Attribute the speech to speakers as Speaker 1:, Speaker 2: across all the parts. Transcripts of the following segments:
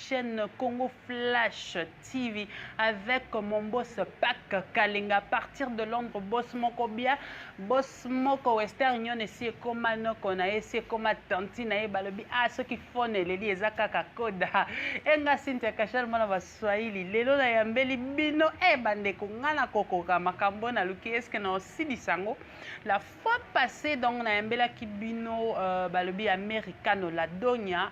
Speaker 1: chaîne Congo Flash TV avec mon boss Pac Kalinga à partir de Londres boss moko bien boss moko Western Union esi ekoma noko na esi ekoma tanti na ye balobi ah soki phone eleli eza kaka koda enga Cynthia Kashal mwana ba Swahili lelo na yambeli bino eh bandeko nga na kokoka makambo na luki eske na osilisa yango la fois passée donc na yambelaki bino euh, balobi americano la donia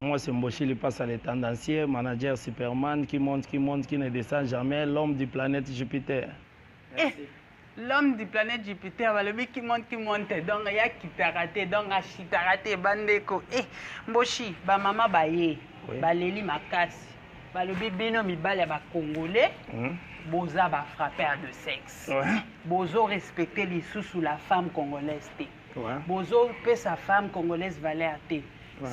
Speaker 1: Moi c'est Mboshi Lipasa
Speaker 2: le tendancier, manager Superman qui monte, qui monte, qui ne descend jamais, l'homme du planète Jupiter. Merci. Eh,
Speaker 1: l'homme du planète Jupiter balobi qui monte, qui monte, donc ya kitaka te, donc ashitaka te bandeko. Eh, Mboshi, ba mama baye, oui. baleli makasi. Balobi bino mibali ya ba congolais. Hmm? boza ba frappeur de sexe ouais. bozo respecter lisusu la femme congolaise te bozo pesa femme congolaise valeur te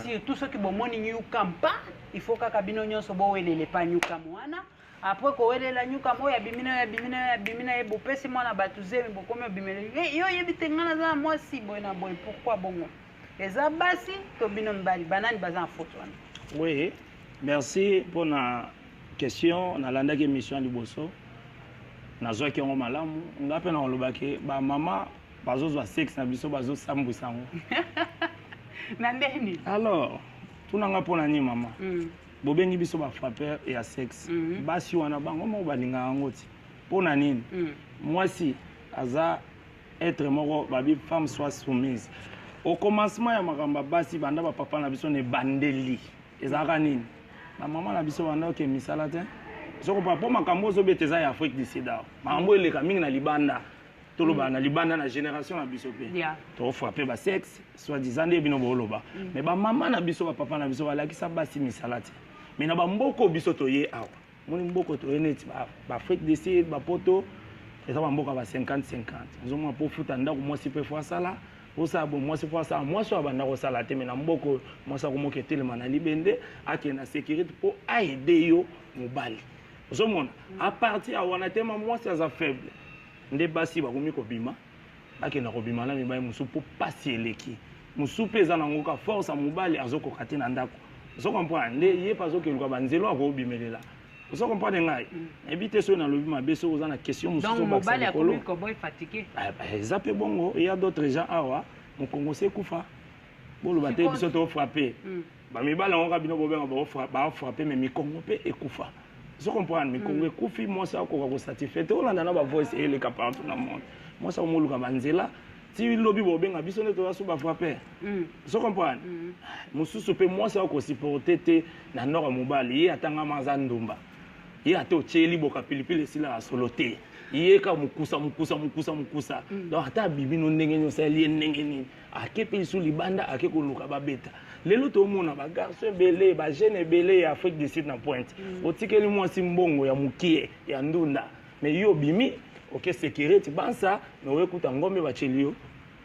Speaker 1: surtout soki bomoni nyuka mpa il faut kaka bino nyonso bowelela epa nyuka mwana apres kowelela nyuka mo ya bimina ya bimina ya bimina ye bopesi mwana bato zemi bokomi obimela yo oyebi te ngai naza na mwasi boye na boye pourkui bongo eza basi to bino mibali banani baza na foto wana oui
Speaker 2: merci mpona question nalandaki émission ya liboso nazwaki yango malamu ngai mpe nakolobaki bamama bazozwa sexe na biso bazosambwisa yango
Speaker 1: na ndenge nini alors
Speaker 2: tunanga mpo na nini mama mm. bobengi biso bafrappeur ya sexe mm. basi wana bango moko balingaka yango ti mpo na nini mm. mwasi aza être moko babi femme soit soumise au commencement ya makambo ya basi banda bapapa na biso na ebandeli ezalaka nini bamama na biso banda oke misala te sokopa mpo makambo ozobeta eza ya afrique du sida makambo eleka mingi na libanda tolobaka mm. na libanda na génération na biso mpe yeah. tokofrappe basexe soit disant nde bino booloba mm. mais bamama na biso bapapa na biso balakisa basi misala te mais na bamboko biso toye awa moni mboko toye neti baafrique du sud bapoto eza bamboka ba 50 50 ozomona mpo ofuta ndako mwasi mpe fo asala osala bo mwasi mpo asala mwasi oyo abanda kosala te me na mboko oyo mwasi akomoka etelema na libende akende na sécurité mpo aide yo mobali ozomona a partir ya wana tema mwasi aza faible nde basi bakomi kobima bakenda kobima na mibali mosusu mpo mpasi eleki mosusu mpe eza nango ka force ya mobali azokoka te na ndako ozo comprendre nde ye mpe azokeluka banzelo akobimelela ozo comprendre ngai mm. nayebi te soki nalobi mabe soki oza na question mosusu obakisa likolo
Speaker 1: ah, bah, eza mpe bongo
Speaker 2: eya d'autres gens awa mokongo se kufa boloba te biso tofrappe mm. ba mibali yango kaka bino bobenga ba frappe mais mikongo mpe ekufa ozo comprendre mikongo mm. ekufi mwasi akoka kosatisfait te olanda na bavoice eleka partout na monde mwasi akomoluka banzela ti lobi bobenga biso nde toza so bafrappeur mm. ozo comprendre mm. mosusu mpe mwasi akosupporte te na nord ya mobali ye atangama aza ndumba ye ata otyeli boka pilipili esilaka solo te ye ka mokusa mokusa mokusa mokusa donc ata abimi no ndenge nini osaleli ye ndenge nini ake mpe lisusu libanda ake koluka babeta lelo tomona bagarso ebele bajeune ebele ya afrique du sud na pointe mm. otikeli mwasi mbongo ya mokie ya ndunda me yo obimi oke sekireti bansa me oyekuta ngombe baceli yo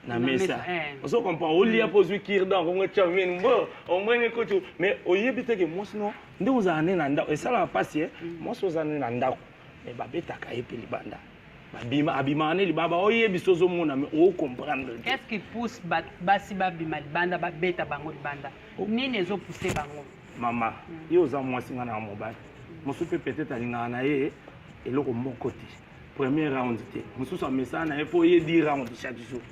Speaker 2: na mesa eh. ozo comprend olia mpo ozwi kirdan kongo etya mini mbo omwenge kutu mais oyebi te ke mwasi no nde ozala nde na ndako esalaka mpasi e eh? mm. mwasi ozala nde na ndako mais babetaka ye mpe libanda babima abimaka ne libanda oyebisa ozomona me ocomprendre te qu'est-ce qui pousse
Speaker 1: basi babima libanda babeta bango libanda oh. nini ezopousse bango mama hmm.
Speaker 2: ye oza mwasi ngai na mobali mosusu mpe peut-être alingaka na ye eloko moko te premier round te mosusu amesana na ye mpo ye di round chaque jour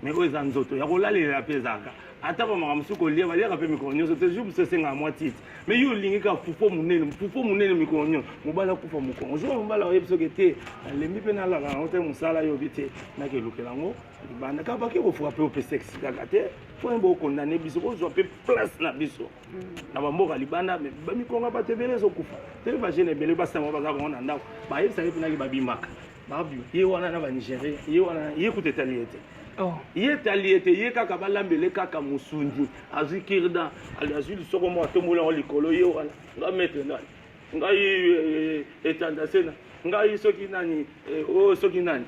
Speaker 2: mais oyo eza nzoto ya kolalela mpe ezalaka ata bamaka mosusu kolia baliaka mpe mikolo nyonso te jour mosusu esengaka mwa titi mais yo olingi kaka pupo monene pupo monene mikolo nyonso mobali akufa mokongo jour mobali ayebi soki te nalembi mpe nalaka yango te mosala yobi te nakelukela yango libanda kaka bake kofrape ope sexe kaka te mpo yemba okondane biso kozwa mpe place na biso mm. na bamboka libanda me bamikonga bato ebele ezokufa te bajene ebele basangwa baza bango na ndako bayebisaki mpenaki babimaka Babio, ye wana na ba Nigeria, ye wana ye kutu etali ye te. Oh. ye etali ye te ye kaka balambele kaka mosundi azwi kirda azwi lisoko moko atombola yango likolo ye wana nga maître nani ngai eh, eh, etanda sena ngai soki nani eh, oyo oh, soki nani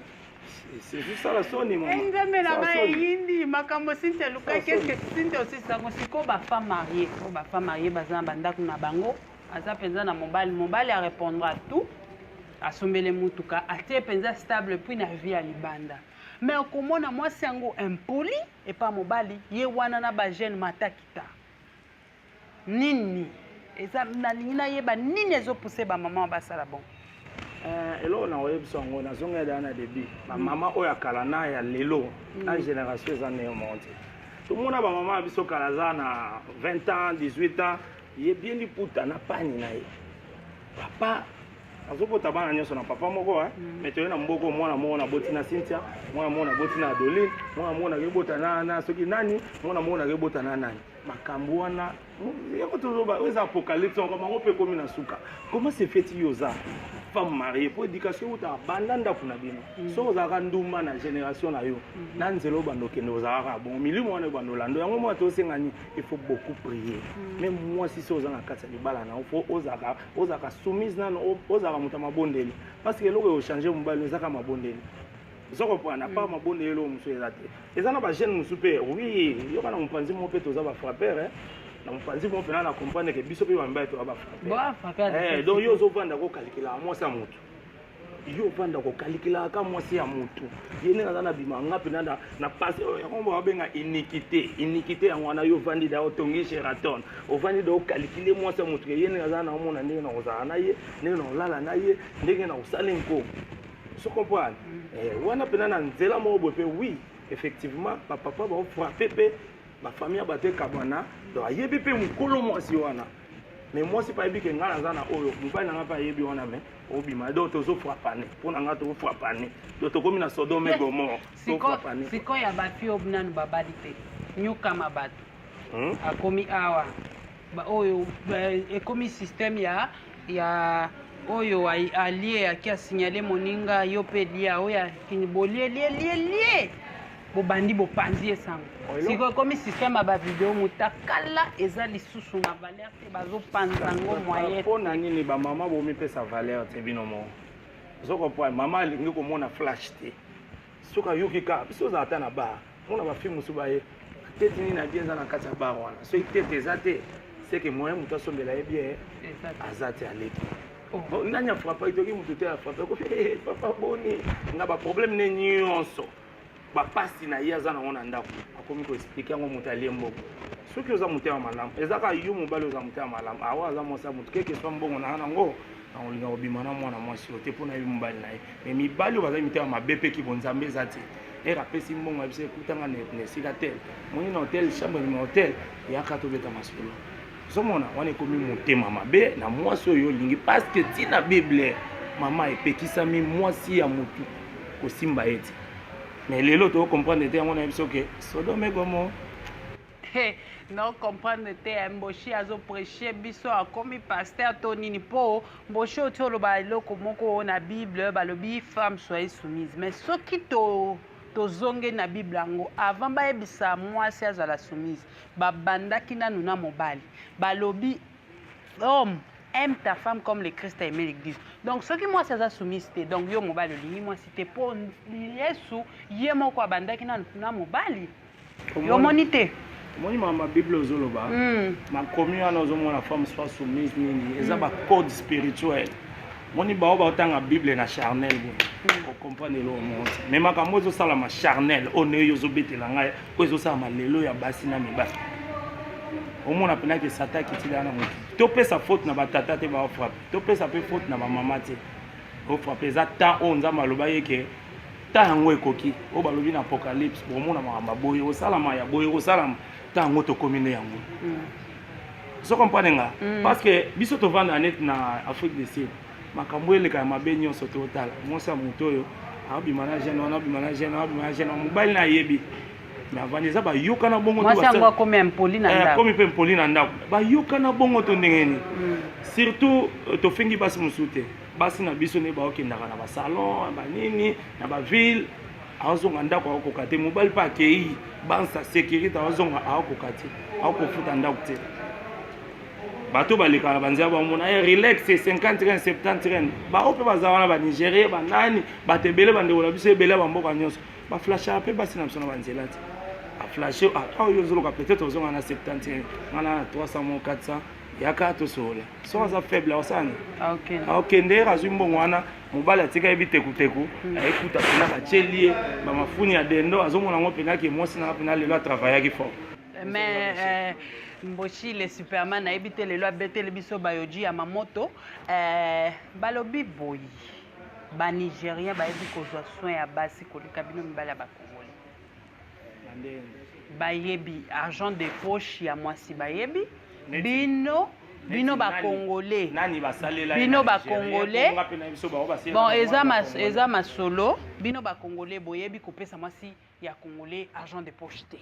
Speaker 2: ezosala soni nzambe na ngai
Speaker 1: eyindi makambo sinti alukaki eske sinti osisi yango sikoyo bafemme marie oyo bafemme marie baza na bandako na bango aza mpenza na mobali mobali arepondra tout asombele motuka atie mpenza stable puis na vie ya libanda me okomona mwasi yango impoli epa mobali ye wana na bajeune matakita nini eza nalingi nayeba nini ezopuse bamama basala bon eh, eloko
Speaker 2: na oyebisa yango nazongela daa na debut bamama mm. oyo ya kala na ya lelo mm. na génération eza neo moko te tomona bamama ya biso kala aza na 20 ans 18 ans ye bien liputa na pani na ye papa azobota bana nyonso na papa moko eh? mm. me toye na mboko mwana moko naboti na cynthia mwana moko naboti na adoline mwana moko nakebota na, na soki nani mwana moko nakebota na nani makambo wana yoko toloba oyo eza apocalypse makambo yango mpe ekomi na suka comment se fait yo oza femme mariée mpo éducation eutaka banda ndako na bino mm. soki ozalaka ndumba na génération na yo mm-hmm. na nzela obanda okende ozalaka bongo milimo wana ebanda olando yango mwana tosengani il faut beaucoup prier mm. mais mwasi so oza na kati ya libala na fo ozalaka ozalaka soumise nano ozalaka moto ya mabondeli parce que eloko eochange mobali ezaka mabondeli oza comprendre apart hmm. mabondeli eloko mosusu eza te eza na bajeune mosusu mpe oui yoka na mopanzi moko mpe toza bafrappeur eh. na mopanzi moko mpena na comprendre ke biso mpe bamibali toza bafrappeur eh, donc yo ozovanda kokalikela mwasi ya motu yo ovanda kokalikela aka mwasi ya motu ye ndenge aza na bima nga mpena na, na pase oyo yango babenga inikite inikite yango wana yo ovandi da otongi sheraton ovandi da okalikile mwasi ya motu ye ndenge aza na omona ndenge na kozala na ye ndenge na kolala na ye ndenge na kosala nko so comprendre mm. eh, wana mpena na nzela moko boye mpe oui effectivement bapapa baofrape mpe bafamille ya bato ekabwana donc ayebi mpe mokolo mwasi wana mais mwasi mpe ayebi ke ngai naza na oyo mobali na ngai mpe ayebi wana mais obima donc tozo frapane mpo na ngai toko frapane donc tokomi na sodome eh, gomor tofrapane sikoyo ya bafi oyo
Speaker 1: nanu babali te nyokama bato hmm? akomi awa oyo ekomi système ya ya oyo alie aki asignale moninga yo mpe lia oyo akini bolie lie lie lie bobandi bopanzi ye sango sikoyo ekomi systeme ya bavideo motakala eza lisusu na valeur te bazopanza yango moyen mpo na nini bamama
Speaker 2: bomipesa valeur te bino moko ozokopwa mama alingi komona flash te soki ayoki ka biso ozala ata na bar mona bafilme mosusu baye tete nini na bie eza na kati ya bar wana soki tete eza te seke moyen moto asombela ye bie aza te aleki oh. nani afrape itoki moto te afrape papa boni na baproblème ne nyonso bapasi na ye aza nango na ndako akomi koexplike yango moto alie mbongo soki oza motema malamu eza kaka yo mobali oza motema malamu awa aza mwasi ya moto keke swa mbongo naa nango nakolinga kobima na mwana mwasi oyo te mpo na ye mobali na ye me mibali oyo bazali mitema mabe mpe kibonzambe eza te ere apesi mbongo yebisa ekutanga na esika tel moni na hotel chambre nima hotel yaka tobeta masolo ozomona wana ekomi motema mabe na mwasi oyo olingi paske ntina bible mama epekisami mwasi ya motu kosimba ye ti mais lelo tokokomprendre te yango na biso ke sodome gomo hey,
Speaker 1: no comprendre te eh, mboshi azopreche biso akomi paster to nini mpo mboshi oti oloba eloko moko na bible balobi femme soye soumise mais soki to tozongeli na bible yango avant bayebisa mwasi azala soumise babandaki nanu na mobali balobi homme aime ta femme comme le christ aime l'église donc soki mwasi aza soumise te donc yo mobali olingi mwasi te mpo yesu ye moko abandaki nanu na mobali yo omoni te omoni mama
Speaker 2: bible ozoloba hmm. makomi wana ozomona femme soit soumise nini eza hmm. bacode spirituel moni bao baotanga bible na charnel boye hmm. okomprane eloko moko te me makambo ezosalama charnel oyo nde yo ozobetela ngai oyo ezosalama lelo ya basi na mibali omona mpena ke sata akitila na motu topesa faute na batata te baofrape topesa mpe faute na bamama te ofrape eza temps oyo nzambe aloba ye ke temps yango ekoki oyo balobi na apocalypse omona makambo ya boye osalama ya boye osalama temps yango tokomi nde yango hmm. so comprendre nga mm. parce que biso tovanda neti na afrique du sud makambo eleka ya mabe nyonso totala mwasi ya moto oyo abima na jeune wana abima na jeune abima na jeune mobali na ayebi me avandi eza bayokana bongoakomi
Speaker 1: eh, mpe mpoli na ndako
Speaker 2: bayokana bongo to ndenge nini mm. surtout euh, tofingi basi mosusu te basi na biso nde baokendaka na basalon banini na baville azonga ndako akokoka te mobali mpe akei bansa sécurité azonga akokoka te akofuta ndako te bato balekaka banzela bamona ye eh, relax 50 ren 70 ren bango mpe baza wana banigerie banani bato ebele bandeko na biso ebele ya bamboka nyonso baflashaka mpe basi na biso na banzela te aflashe ah, ata oyo ozoloka peut-être ozonga na 70 ren wana na 300 mo 400 yaka tosolola soki aza faible akosala nini akokende ah, ye azwi mbongo wana mobali atika ye bitekuteku ayekuta mpena batieli ye bamafuni ya dendo azomona yango mpena ke mwasi nanga mpena lelo atravayaki fort mais euh,
Speaker 1: mboshi le superman nayebi te lelo abeteli biso bayoji ya mamoto euh, balobi boyi banigérien bayebi kozwa soin ya basi koleka bino mibali ya bakongoli bayebi argent de poche ya mwasi bayebi bino bino bakongole bino
Speaker 2: bakongole
Speaker 1: bon eza, mas, eza masolo bino bakongole boyebi kopesa mwasi ya congolais argent de poche te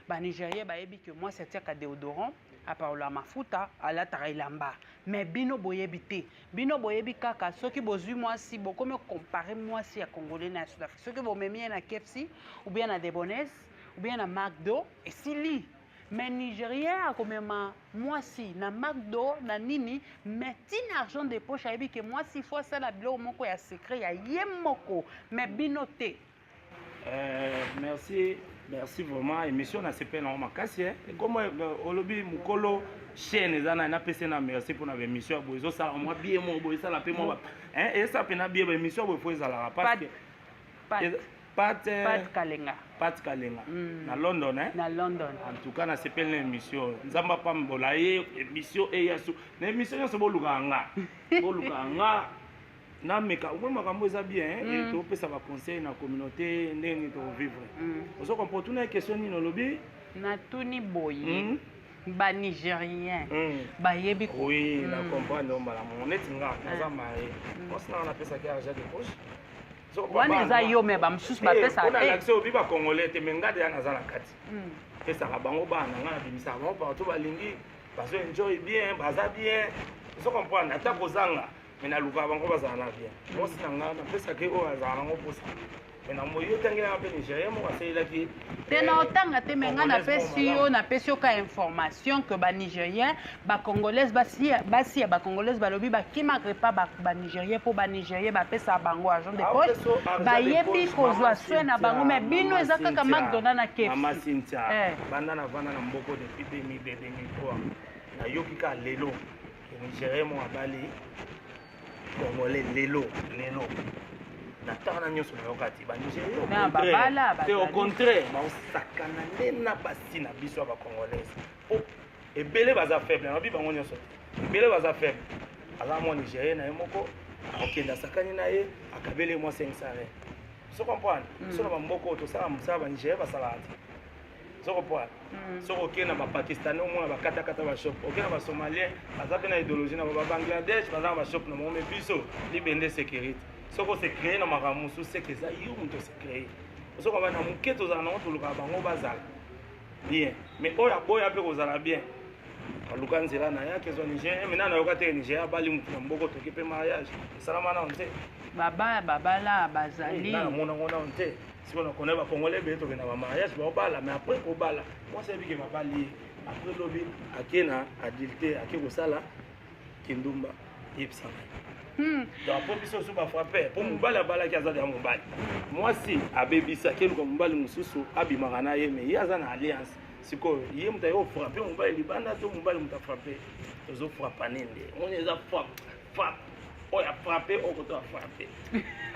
Speaker 1: banigerien bayebi ke mwasi atiaka deodorant aparola mafuta alataka elamba mais bino boyebi te Bino boyebi kaka soki bozui mwasi bokomi comparer mwasi ya congolais na ya sud afrique soki bomemi ye na kefsi ou bien na debones ou bien na macdo esili mais nigérien akomema mwasi na macdo na nini mais tina argent de poche ayebi ke mwasi fo asala biloko moko ya secret ya ye moko mais bino te Euh, merci,
Speaker 2: merci vraiment. Émission na CP na makasi hein. Comme euh, olobi mukolo chaîne eza na na pese na merci pour na émission bo ezo sala moi bien mo bo sala pe moi hein et ça pe na bien émission bo faut ezala parce que Pat Pat euh, Kalenga. Pat Kalenga. Mm. Na London hein. Na London. En
Speaker 1: tout cas na CP
Speaker 2: na émission. Nzamba pa mbola ye émission et yasu. Na émission yasu bo lukanga. Bo lukanga. na meka omoi makambo eza bien hein, mm. et topesa ba conseil na communauté ndenge nini tokobivre mm. ozo comprendre otuna question nini olobi natuni
Speaker 1: boye mm. banigérien mm. bayebi ko oui mm. na comprendre
Speaker 2: mbala moko neti nga ah. naza maye mm. osi nanga napesaki argent de poche wana
Speaker 1: eza yo me bamosusu bapesaka eh, te eh. obi bacongolais
Speaker 2: te me nga deya naza na kati mm. pesaka bango bana nga nabimisaka bango partout balingi bazo enjoy bien baza bien ozo comprendre ata kozanga me nalukaka bango bazala na bien mwasi na ngai napesaki oyo azala nango mposa me na moyi otangelaka mpe nigérien moko asalelaki ye te na otanga
Speaker 1: te me ngai napesi yo napesi yo ka information que banigérien bacongolaise basi ya bacongolaise balobi bakimaka epa banigérien mpo banigérien bapesaka bango agent de poche bayebi kozwa soin na bango me bino eza kaka macdonald na kefbanda
Speaker 2: navanda na mboko depuis 2002 2003 nayoki kaka lelo nigérien moko abali congolais lelo lelo na ntango na nyonso nayoka te banigérien te au contraire baosakana nde na basi na biso ya bacongolais po ebele baza faible nabi bango nyonso te ebele baza faible aza mwa nigérien na ye moko akokende asakani na ye akabeli mwa 500 so comprendre biso na bamboka oyo tosala mosala banigérien basalaka te soko poa mm. soko okei na bapakistanais omona bakatakata bashop okei na basomalien baza mpe na idéologie na ba bangladesh baza na bashop na bango me biso libende sécurité soko se créer na makambo mosusu seke eza yo moto se créer soko bana moke tozala nango tolukaka bango bazala bien mais oyo aboya mpe kozala bien aluka nzela na ye akezwa nigeria mena nayoka te nigeria abali motu na mboko toki mpe mariage esalama nao nte babaya babala
Speaker 1: bazali namonango nao nte
Speaker 2: sikoyo na kona bacongolais ebele tokenda bamariage baobala mais après kobala mwasi ayebike babali ye après lobi ake na adulte ake kosala kindumba yebisa ngai hmm. donc mpo biso osu bafrappe mpo mobali abalaki aza deya mobali mwasi abebisi akeluka mobali mosusu abimaka na ye mais ye aza na alliance sikoyo ye moto aye ofrappe mobali libanda to mobali moto afrappe tozofrappane nde moni eza frappe frappe oyo afrappe oyo koto afrappe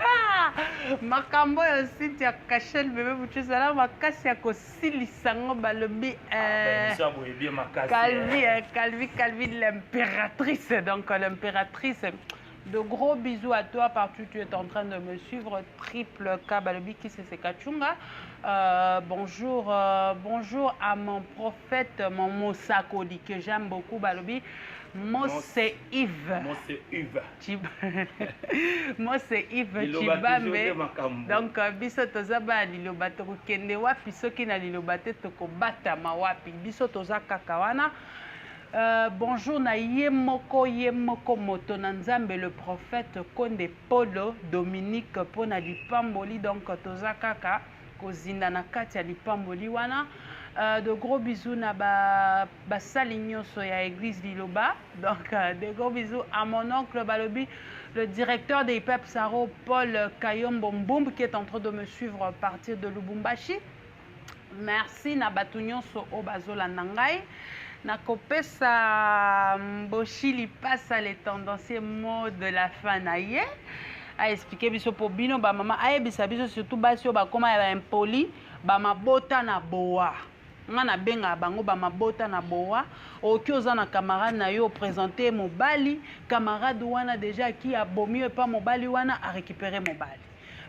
Speaker 2: ah! makambo
Speaker 1: oyo site ya cachel bebe bucu ezala makasi ya kosilisa ngo balobi ah, eh, calvi eh, calvi calvi l'impératrice donc l'impératrice De gros bisous à toi partout tu es en train de me suivre. Triple K Balobi Kisese Kachunga. Euh, bonjour, euh, bonjour à mon prof. prophète mon mosakoli que j'aime beaucoup balobi Mose Yves. Mose Yves.
Speaker 2: Chib...
Speaker 1: Mose Yves Chibambe. Donc euh, biso toza ba liloba tokokende wapi soki na liloba te tokobatama wapi biso toza kaka wana. Euh, bonjour na ye moko ye moko moto na nzambe le prophète konde polo dominique mpo na lipamboli donc toza kaka kozinda na kati ya lipamboli wana uh, de gros bisous na ba basali nyonso ya église liloba donc uh, de gros bisous à mon oncle balobi le directeur de IPEP Saro Paul Kayombo Mbumb qui est en train de me suivre à partir de Lubumbashi merci na bato nyonso oyo bazolanda ngai nakopesa mboshi lipasa le tendancier mot de la fin na ye a expliquer biso po bino ba mama ayebisa biso surtout basi oyo bakoma ya ba impoli ba mabota na boa nga nabengaka bango bamabota na bowa oki oza na camarade na yo opresente mobali camarade wana deja aki abomi yo epa mobali wana arécupere mobali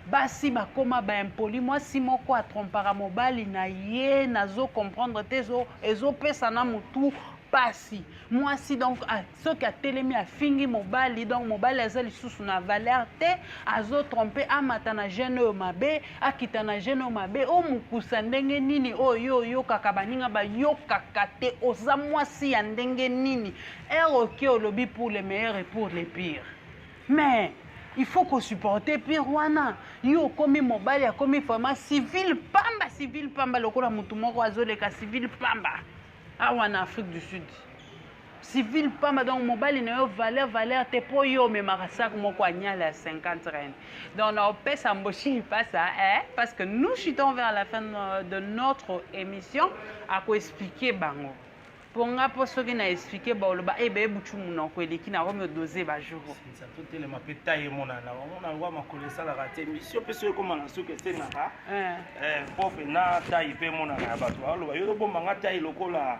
Speaker 1: basi bakoma baimpoli mwasi moko atrompaka mobali na ye nazo comprendre te ezopesa na motu mpasi mwasi donc soki atelemi afingi mobali donc mobali aza lisusu na valeur te azotrompe amata na jeune oyo mabe akita na jeune oyo mabe o mokusa ndenge nini oyo yo oyokaka baninga bayokaka te oza mwasi ya ndenge nini ere oke olobi pour le meilleur et pour le pire mais il faut kosupporte pire wana yo okomi mobali akomi vraiment civile pamba civile pamba lokola motu moko azoleka civile pamba awa na afrique du sud civil pamba donc mobali na yo valeur valeur te mpo yo omemaka sac moko anyala ya 50 reine donc na opesa mboshi lipasa eh? parce que nous chutons vers la fin de notre émission akoexplike bango mpo nga mpo soki na explike baoloba e eh, beye butu monoko eleki na yango miodose bajour totelema mpe
Speaker 2: tai emonana omona yango makolo esalaka te misio mpe soki ekoma na suki esengaka eh. eh, mpo mpe na tai mpe emonana ya bato baoloba yo tobomba nga tai lokola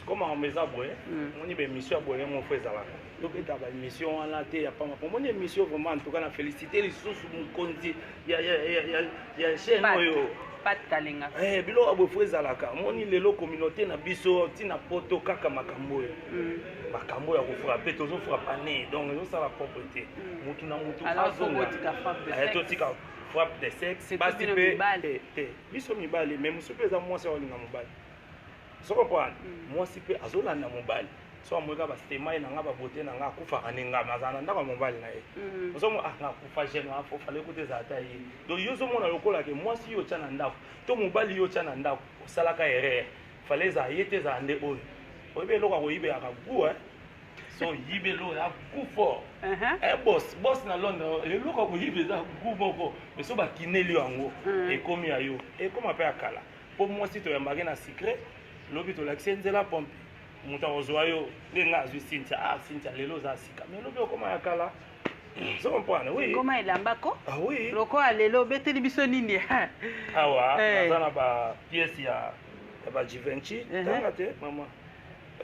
Speaker 1: siko makambo
Speaker 2: eza boye hmm. omoni baémission ya boye moko ezalaka tobeta baémission wana te ya pamba omoni émission vraiment antuka na félicité lisusu mokonzi ya chaîne oyo
Speaker 1: eh, biloko ya boye fo
Speaker 2: ezalaka omoni lelo communauté na biso ntina poto kaka makambo oyo hmm. makambo ya kofrape tozofrapa ne donc ezosala propre te hmm. motu na motu azonga eh, totika frappe de sexe basi mpe te biso mibali mais mosusu mpe eza mwasi akolinga mobali so comprendre mm. mwasi mpe azolanda mobali so amoni kaka bastemai na ngai babote na ngai akufaka nde ngai azala na ndako ya mobali na ye mm. ozomo ah, akufa gene afofala ekuta ezala ata ye donc yo ozomona lokola ke mwasi yo otya na ndako to mobali yo otya na ndako osalaka erreur fale ezala ye te ezala nde oyo oyebi eloko akoyibelaka gu eh? so oyibi eloko ya gu fort uh-huh. eh, bos bos na londre eloko akoyiba eza gu moko mais so bakineli yango mm. ekomi ya yo ekoma mpe ya kala mpo mwasi toyambake na secret lobi tolakisi ye nzela pompe moto akozwa yo nde ngai azwi sintia ah sintia lelo oza sika me lobi okoma ya kala ozo comprendre oui ngoma elamba ko
Speaker 1: ah oui lokola
Speaker 2: lelo obeteli
Speaker 1: biso nini awa
Speaker 2: eh. naza na ba pièce ya ya ba Givenchy eh. tanga te mama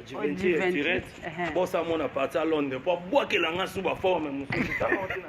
Speaker 2: Givenchy oh, tirette eh. bosa mona parti à Londres mpo abwakela nga sous ba forme mosusu tanga otina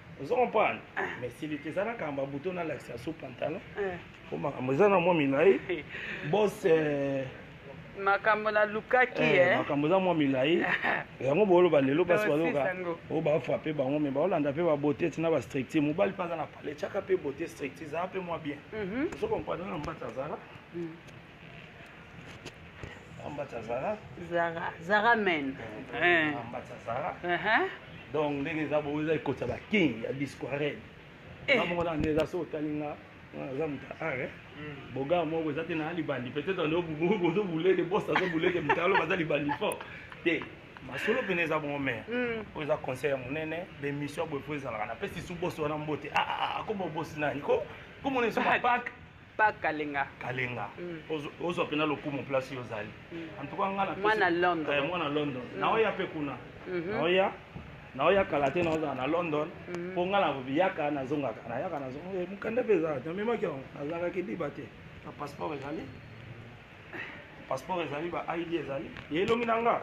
Speaker 2: ozo comprendre ah. mais silite eza na kamba buto na lakisa sous pantalon eh. po makambo eza na mwa milai bos eh,
Speaker 1: makambo nalukaki eh, eh, makambo eza mwa
Speaker 2: milai yango booloba lelo basi bazoka oyo bafrape bango me baolanda mpe babote ti na bastricture mobali mpe aza na pale tyaka mpe bote stricture zala mpe mwa bien mhm. ozo comprendre na mbata azala mm. Ambatsa Zara. Zara, Zara
Speaker 1: men. Eh. Ambatsa
Speaker 2: Zara. Uh -huh. Donc ndenge eza bo eza ekotsa ba king ya Bisquared. Eh. Ba mona nde eza so talinga. Aza moto are. Hmm. Boga moko eza te na libandi. Peut-être ndio bubu bozo bulele boss azo bulele mutalo baza libandi fort. Te. masolo mpene eza bongo mare hmm. oyo eza conseil ya monene bemission boye mpo ezalaka napesi su bosi wana mbote ah, ah, ah, akoma obosi nani ko komona esu mapake pa kalenga
Speaker 1: kalenga
Speaker 2: hmm. ozwa mpena lokumu place yo ozali hmm. antuka nga na mwana london eh, mwana
Speaker 1: london hmm. naoya
Speaker 2: mpe kuna mhm. naoya naoya kala te naozala na london mpo mhm. nga nayaka nazongaka nayaka nazongaka eh, mokanda mpe ezalaka namemaki yango nazalaki liba te na passeport ezali passeport ezali ba id ezali ye elongi na nga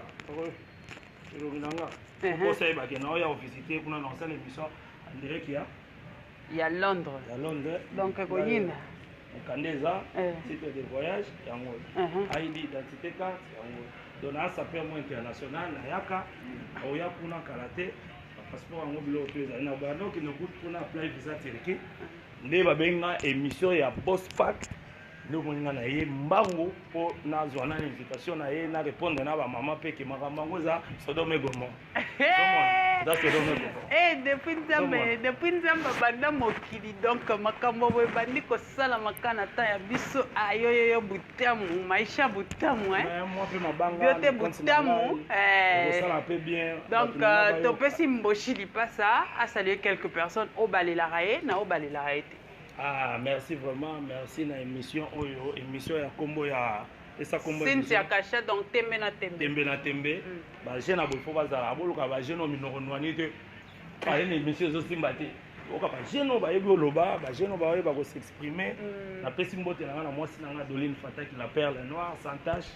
Speaker 2: elongi na nga mhm. okosa yebake naoya ovisite kuna na osala émission andireki ya ya
Speaker 1: londres ya londres donc
Speaker 2: ekoyina
Speaker 1: mokanda eza
Speaker 2: eh. titre de voyage yango uh-huh. id identité carte yango donc naa sape yango international nayaka aoya kuna kala te bapasseport yango biloko to ezali na banda okende kutu kuna apply visa turquie nde babengi nga émission ya boss pack nde omoni nga na ye mbango mpo nazwa na invitation na ye na répondre na bamama mpe ke makambo yango eza sodome gomor
Speaker 1: Eh, depuis nzambe depuis nzambe abanda mokili donc makambo boye ebandi kosalama kaka na temps ya biso ayoyoyo ah, butamu maisha butamu eh.
Speaker 2: yo te butamu eh. donc euh,
Speaker 1: topesi mboshi lipasa asalue quelques personnes oyo balelaka ye na oyo balelaka ye te ah merci
Speaker 2: vraiment merci na émission oyo émission ya nkombo ya esa kombo Cynthia Kasha donc
Speaker 1: tembe na tembe tembe na tembe mm. ba jeune abo faut bazala aboluka ba jeune oyo minoko nwani te aye na émission ezosimba te oyoka ba jeune oyo bayebi oloba ba jeune oyo bayeba ko s'exprimer mm. napesi mbote na ngai na mwasi na ngai Adeline Fataki la perle noire sans tache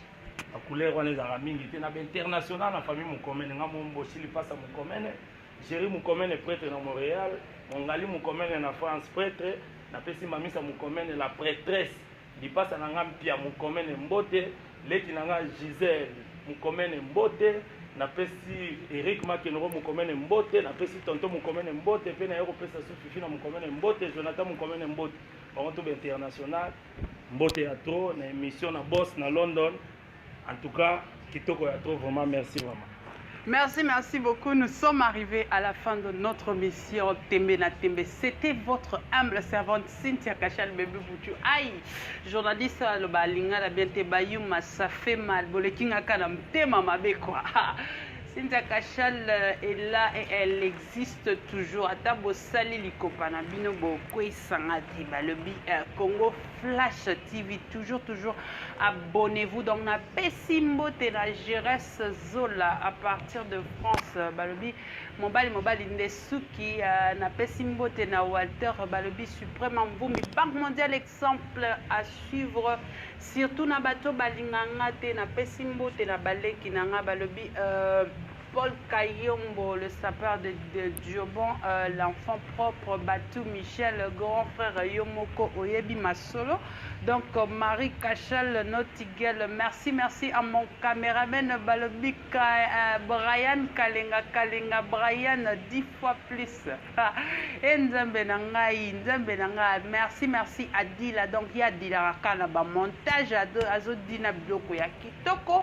Speaker 1: ba couleur wana ezalaka mingi te na ba international na famille mokomene ngai mombosi lipasa mokomene Jerry Mukomene prêtre na Montréal, Mongali Mukomene na France prêtre, napesi Mamisa Mukomene la prêtresse Lipasa na nga mpia mukomene mbote leki na nga Gisèle mukomene mbote napesi Eric Makenoro mukomene mbote napesi tonto mukomene mbote pe naye kopesa su fifi na mukomene mbote Jonathan mukomene mbote bango to ba international mbote ya trop na emission na boss na London En tout cas, kitoko ya trop vraiment merci maman. Merci, merci beaucoup. Nous sommes arrivés à la fin de notre mission Tembe na Tembe. C'était votre humble servante Cynthia Kachal Bébé Boutu. Aïe, journaliste le balinga la bien te bayuma, ça fait mal. Bolekinga kana mtema mabe quoi. Cynthia Kachal euh, est là et elle existe toujours. Ata bosali likopa na bino bo Sangati balobi euh, Congo Flash TV toujours toujours abonnez-vous donc na pesi mbote na Jeresse Zola à partir de France balobi mobali mobali nde suki euh, na pesi mbote na Walter balobi suprême mvumi Banque mondiale exemple à suivre surtout na bato balinganga te na pesi mbote na baleki na nga balobi euh, Paul Kayombo, le sapeur de, de Diobon, euh, l'enfant propre, Batou Michel, grand frère Yomoko Oyebi Masolo. Donc, euh, Marie Cachal, Notigel, merci, merci à mon caméraman Balobi euh, Brian Kalenga, Kalenga, Brian, dix fois plus. Et Nzambe Nangaï, Nzambe Nangaï, merci, merci à Dila. Donc, il y a Dila Rakana, montage, Azo Dina Bloko, Yakitoko.